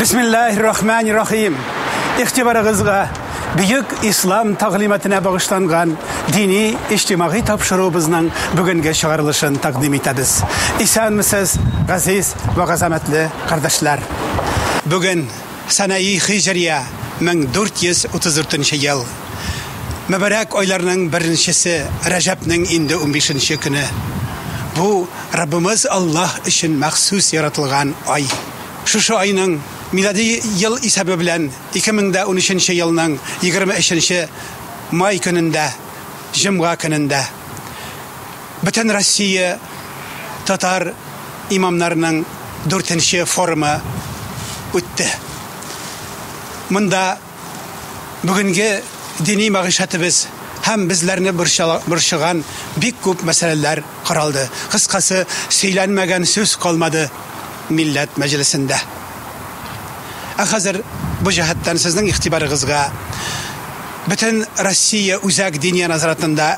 Бисмиллахи рахмани рахим. Ихтибарыгызга бөек ислам тәгълиматына багышланган дини иҗтимагый тапшыруыбызның бүгенге чыгарылышын тәкъдим итәбез. Исәнмесез, газиз ва газамәтле кардәшләр. Бүген Санаи хиҗрия 1434 нче ел. Мөбарәк айларның беренчесе Рәҗәпнең инде унбишенче көне. Бу, Раббымыз Аллаһ өчен махсус яратылган ай. Шушы айның, милади ел исәбе белән 2013 нче елның егерме өченче май көнендә, җомга көнендә. Бөтенроссия татар имамнарының дүртенче форумы үтте. Монда бүгенге дини мәгыйшәтебез һәм безләрне борчыган бик күп мәсьәләләр каралды. Кыскасы, сөйләнмәгән сүз калмады милләт мәҗлесендә. Ә хәзер бу җәһәттән сезнең игътибарыгызга Бөтенроссия үзәк диния назаратында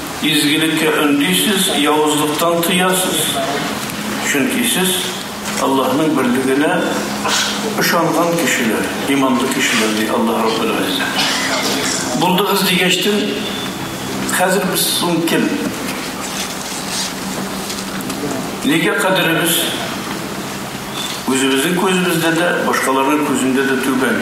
Изгелеккә өндисез, явызлыктан тыясыз, чөнки сез Аллаһның берлегенә ышанган кешеләр, иманлы кешеләр, ди Аллаһ Раббул Гыйззә. Булдыгыз дигәчтен, хәзер без соң кем? Нигә кадеребез үзебезнең күзебездә дә, башкаларның күзендә дә түбән?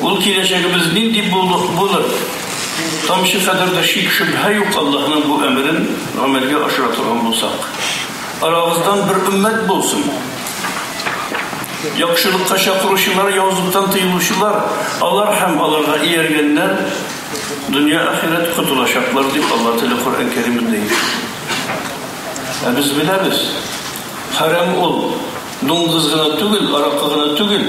Ул киләчәгебез нинди булыр? Тамчы кадәр дә шик-шөбһә юк Аллаһның бу әмерен гамәлгә ашыра торган булсак. Арагыздан бер өммәт булсын. Яхшылыкка чакыручылар, явызлыктан тыелучылар, алар һәм аларга ияргәннәр дөнья-ахирәт котылачаклар, дип Алла теле Коръән Кәримендә әйтә. Ә без беләбез, хәрам ул, дуңгыз гына түгел, аракы гына түгел.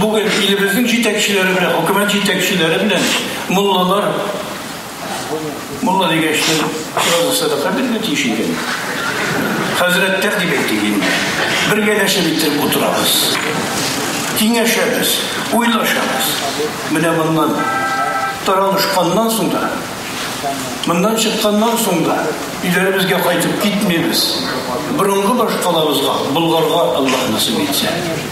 Бүген илебезнең җитәкчеләре белән, хөкүмәт җитәкчеләре белән муллалар мулла дигәч, сразу садака бирергә тиеш икән. Хәзрәттәр дип әйтик инде. Бергәләшеп итеп утырабыз. Киңәшәбез, уйлашабыз. Менә моннан таралышканнан соң да, моннан чыкканнан соң да өйләребезгә кайтып китмибез. Борынгы башкалабызга, Болгарга Аллаһ насыйп итсә.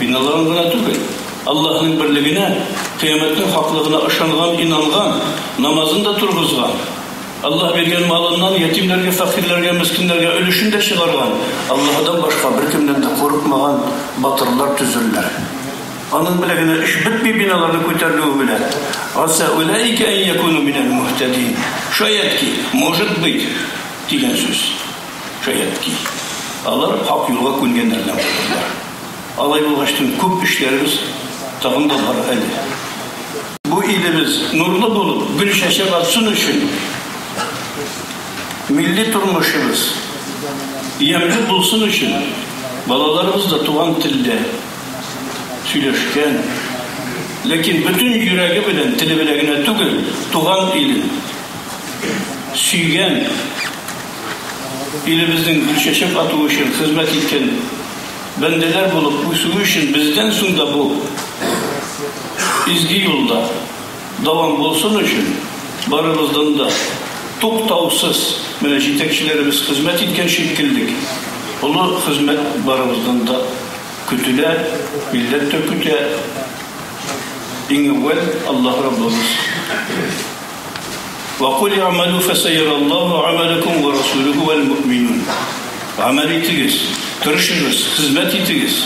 Биналарын гына түгел, Аллаһның берлегенә, кыямәтнең хаклыгына ышанган, инанган, намазын да торгызган, Аллаһ биргән малыннан ятимнәргә, фәкыйрьләргә, мескиннәргә өлешен дә чыгарган, Аллаһыдан башка беркемнән дә курыкмаган батырлар төзерләр. Аның белән генә эш бетми биналарның күтәрелүе белән. Аса уләйкә ән якуну минәл мухтәдин. Шаят ки, может быть, дигән сүз. Шаярт ки, алар хак юлга күнгәннәр генә булырлар. Алай булгач, төн күп эшләребез тагын да бар әле. Бу илебез нурлы булып, гөл чәчәк атсын өчен, милли тормышыбыз ямьле булсын өчен, балаларыбыз да туган телдә сөйләшкән, ләкин бөтен йөрәге белән, теле белән генә түгел, туган илен сөйгән, илебезнең гөлчәчәк атуы өчен хезмәт иткән бәндәләр булып үсүе өчен бездән соң да бу изге юлда дәвам булсын өчен барыбыздан да туктаусыз, менә җитәкчеләребез хезмәт иткән шикеллек, олы хезмәт барыбыздан да көтелә, милләт тә көтә. Иң әүвәл Аллаһ Раббыбыз. Ва куль иамәлү фәсәйәраллаһу гамәләкүм ва расулүһү вәл муъминун. Гамәл итегез, тырышыгыз, хезмәт итегез.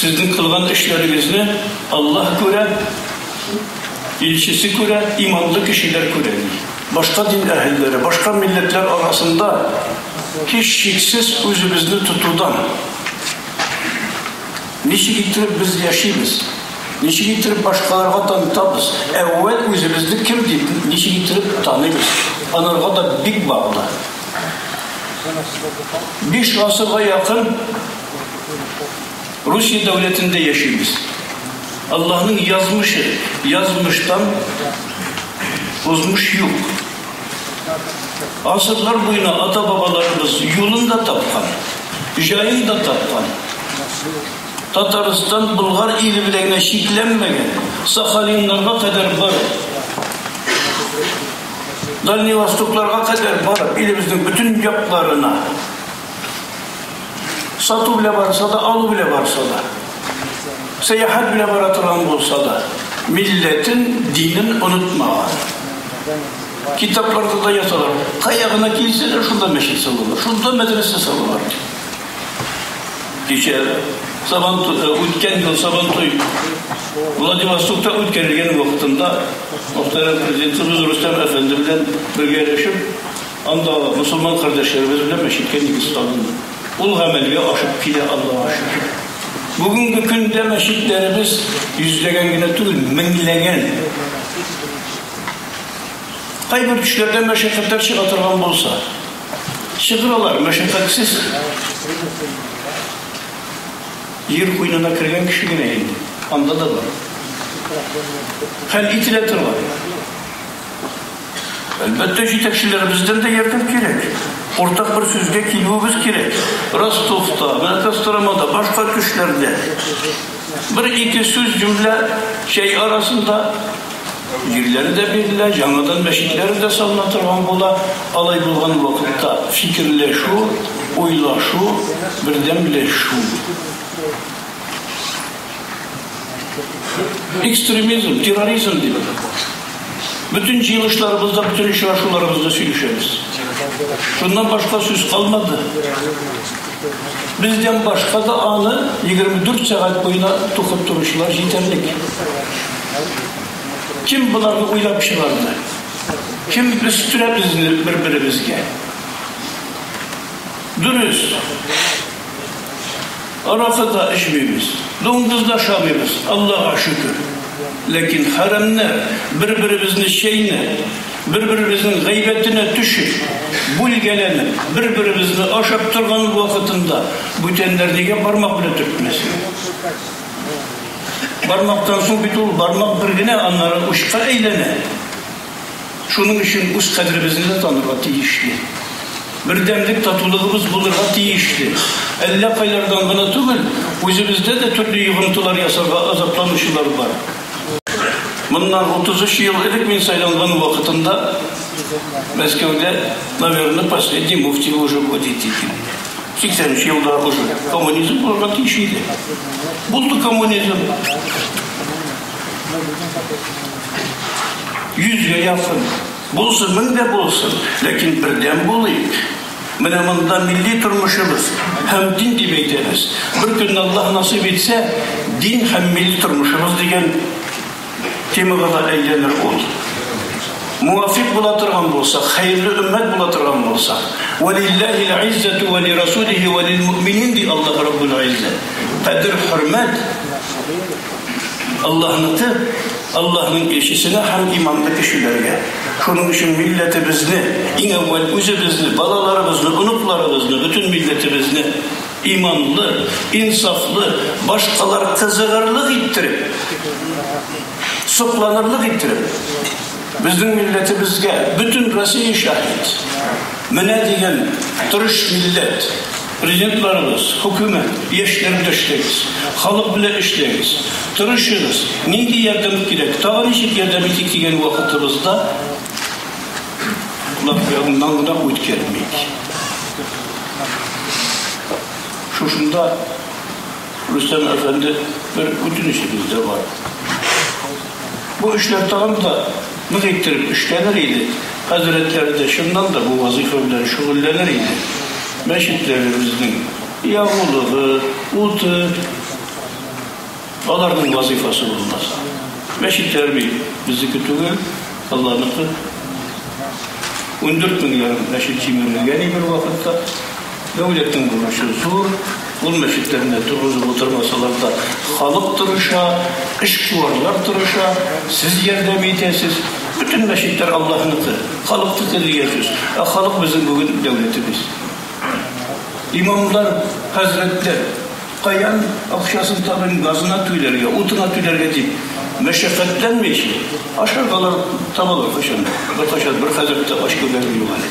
Сезнең кылган эшләрегезне Аллаһ күрә, илчесе күрә, иманлы кешеләр күрә. Башка дин әһелләре, башка милләтләр арасында һичшиксез үзебезне тотудан. Ничек иттереп без яшибез? Ничек иттереп башкаларга танытабыз? Әүвәл үзебезне кем дип, ничек иттереп таныйбыз? Анарга да бик баглы. Биш гасырга якын Русия дәүләтендә яшибез. Аллаһның язмышы, язмыштан узмыш юк. Гасырлар буена ата-бабаларыбыз юлын да тапкан, җаен да тапкан. Татарстан Болгар иле белән генә чикләнмәгән, Сахалиннарга кадәр барып, Дальний Востокларга кадәр барып, илебезнең бөтен якларына сату белән барса да, алу белән барса да, сәяхәт белән бара торган булса да, милләтен, динен онытмаган. Китапларда да язалар, кая гына килсәләр, шунда мәчет салалар, шунда мәдрәсә салалар. Кичә Сабантуйда үткән ел Сабантуй Владивостокта үткәрелгән вакытында мөхтәрәм Президентыбыз Рөстәм әфәнде белән бергәләшеп андагы мөселман кардәшләребез белән мәчеткә нигез салынды. Ул гамәлгә ашып килә, Аллага шөкер. Бүгенге көндә мәчетләребез йөзләгән генә түгел, меңләгән. Кайбер төшләрдә мәшәкатьләр чыга торган булса, Сыдыралар, мәшәкатьсез. Җир куенына кергән кеше генә инде. Анда да бар. Хәл ителә торган. Әлбәттә, җитәкчеләребездән дә ярдәм кирәк. Уртак бер сүзгә килүебез кирәк. Ростовта, Костромада, башка көчләрдә. Бер-ике сүз, җөмлә, чәй арасында Җирләре дә бирелә, яңадан мәчетләр дә салына торган була. Алай булган вакытта фикерләшү, уйлашу, бердәмләшү. Экстремизм, терроризм дип, бөтен җыелышларыбызда, бөтен очрашуларыбызда сөйләшәбез. Шуннан башка сүз калмады. Бездән башка да аны 24 сәгать буена тукып торучылар җитәрлек. Кем боларны уйлап чыгарды? Кем өстерә безне бер-беребезгә? Дөрес. Аракы да эчмибез, дуңгыз да шамыйбыз, Аллага шөкер. Ләкин хәрәмнәр бер-беребезне чәйнәп, Бер-беребезнең гайбәтенә төшеп, бүлгәләнеп, бер-беребезне ашап торган вакытында бүтәннәр нигә бармак белән төртмәсен? Бармактан соң бит ул бармак бер генә, аннары учка әйләнә. Шуның өчен үз кадеребезне дә танырга тиешле. Бердәмлек, татулыгыбыз булырга тиешле. Әллә кайлардан гына түгел, үзебездә дә төрле йогынтылар ясарга азапланучылар бар. Моннан 33 ел элек мин сайланган вакытында Мәскәүдә, наверное, последний муфти уже входит икән. 83 елда уже коммунизм булырга тиеш иде. Булды коммунизм. Йөзгә якын. Булсын, мең дә булсын, ләкин бердәм булыйк. Менә монда милли тормышыбыз һәм дин дип әйтәбез. Бер көнне Аллаһ насыйп итсә, дин һәм милли тормышыбыз дигән темага да әйләнер ул. Муафик була торган булсак, хәерле өммәт була торган булсак, вәлилләһил иззәту вә лирасулихи вә лилмуъминин ди Аллаһ Раббул Иззә. Кадер, хөрмәт Аллаһныкы, Аллаһның илчесенә һәм иманлы кешеләргә. Шуның өчен милләтебезне, иң әүвәл үзебезне, балаларыбызны, оныкларыбызны, бөтен милләтебезне иманлы, инсафлы, башкалар кызыгырлык иттереп, сокланырлык иттереп, безнең милләтебезгә бөтен Россия шаһит. Менә дигән тырыш милләт. Президентларыбыз, Хөкүмәт, яшьләр белән эшләгез, халык белән эшләгез, тырышыгыз, нинди ярдәм кирәк, тагы ничек ярдәм итик дигән вакытыбызда алар яныннан гына үткәрмик. Шушында, Рөстәм әфәнде, бер үтенечебез дә бар. Бу эшләр тагын да нык иттереп эшләнер иде, хәзрәтләр дә чыннан да бу вазыйфа белән шөгыльләнер иде. Мәчетләребезнең ягулыгы, уты, аларның вазыйфасы булмас. Мәчетләр бит безнеке түгел, Алланыкы. Ундүрт мең ярым мәчет җимерелгән и бер вакытта. Дәүләтнең бурычы зур, ул мәчетләрне торгызып утырмасалар да, халык тырыша, эшкуарлар тырыша, сез ярдәм итәсез. Бөтен мәчетләр Аллаһныкы, халыкныкы дигән сүз. Ә халык безнең бүген дәүләтебез. Имамнар, хәзрәтләр, каян акчасын табыйм, газына түләргә, утына түләргә дип мәшәкатьләнмичә, ашарга алар табалар кайчан да. Беркайчан бер хәзрәт тә ач күргәнем юк әле.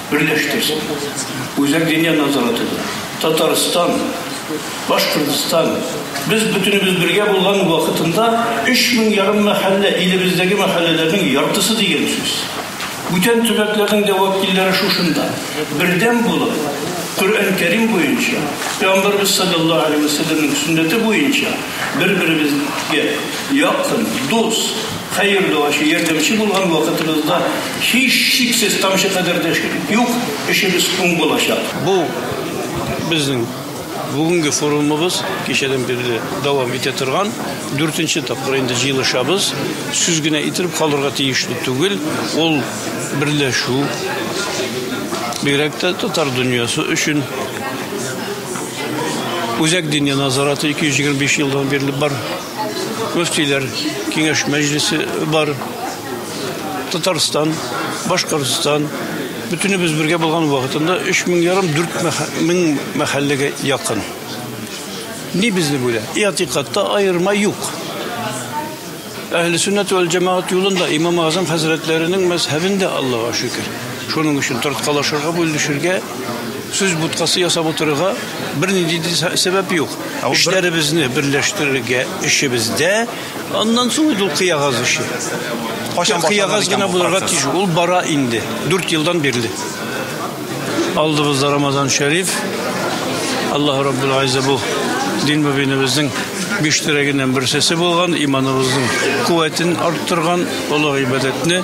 берләштерсен. Үзәк диния назараты да, Татарстан, Башкортстан, без бөтенебез бергә булган вакытында өч мең ярым мәхәллә, илебездәге мәхәлләләрнең яртысы дигән сүз. Бүтән төбәкләрнең дә вәкилләре шушында. Бердәм булып, Коръән Кәрим буенча, Пәйгамбәрбез салләллаһу галәйһи вә сәлләмнең сөннәте буенча бер-беребезгә якын, дус, Хәер, дуачы, ярдәмче булган вакытыгызда, һичшиксез, тамчы кадәр дә шик юк, эшегез уң булачак. Бу, безнең бүгенге форумыбыз, кичәдән бирле дәвам итә торган. Дүртенче тапкыр инде җыелышабыз. Сүз генә итеп калырга тиешле түгел, ул берләшү, бигрәк тә татар дөньясы өчен. Үзәк Диния назараты 225 елдан бирле бар. мөфтиләр киңәш мәҗлесе бар. Татарстан, Башкортстан, бөтенебез бергә булган вакытында 3 мең ярым 4 мең мәхәлләгә якын. Ни безне бүлә? Иатикатта аерма юк. Әһле сөннәт вәл җәмәгать юлында имам Азам хәзрәтләренең мәзһәбендә Аллаһуга шөкер. Шуның өчен тарткалашырга, бүлешергә, сүз буткасы ясап утырырга бернинди сәбәп юк. Эшләребезне берләштерергә эшебездә, аннан соң инде ул кыягаз эше. Кайчан кыягаз гына булырга тиеш, ул бара инде. 4 елдан бирле. Алдыбызда Рамазан Шәриф. Аллаһ Раббул Гайза бу дин мөбинебезнең биш терәгеннән берсесе булган, иманыбызның куәтен арттырган олы гыйбадәтне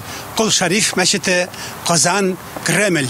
Кол Шариф мәчете, Казан, Кремль.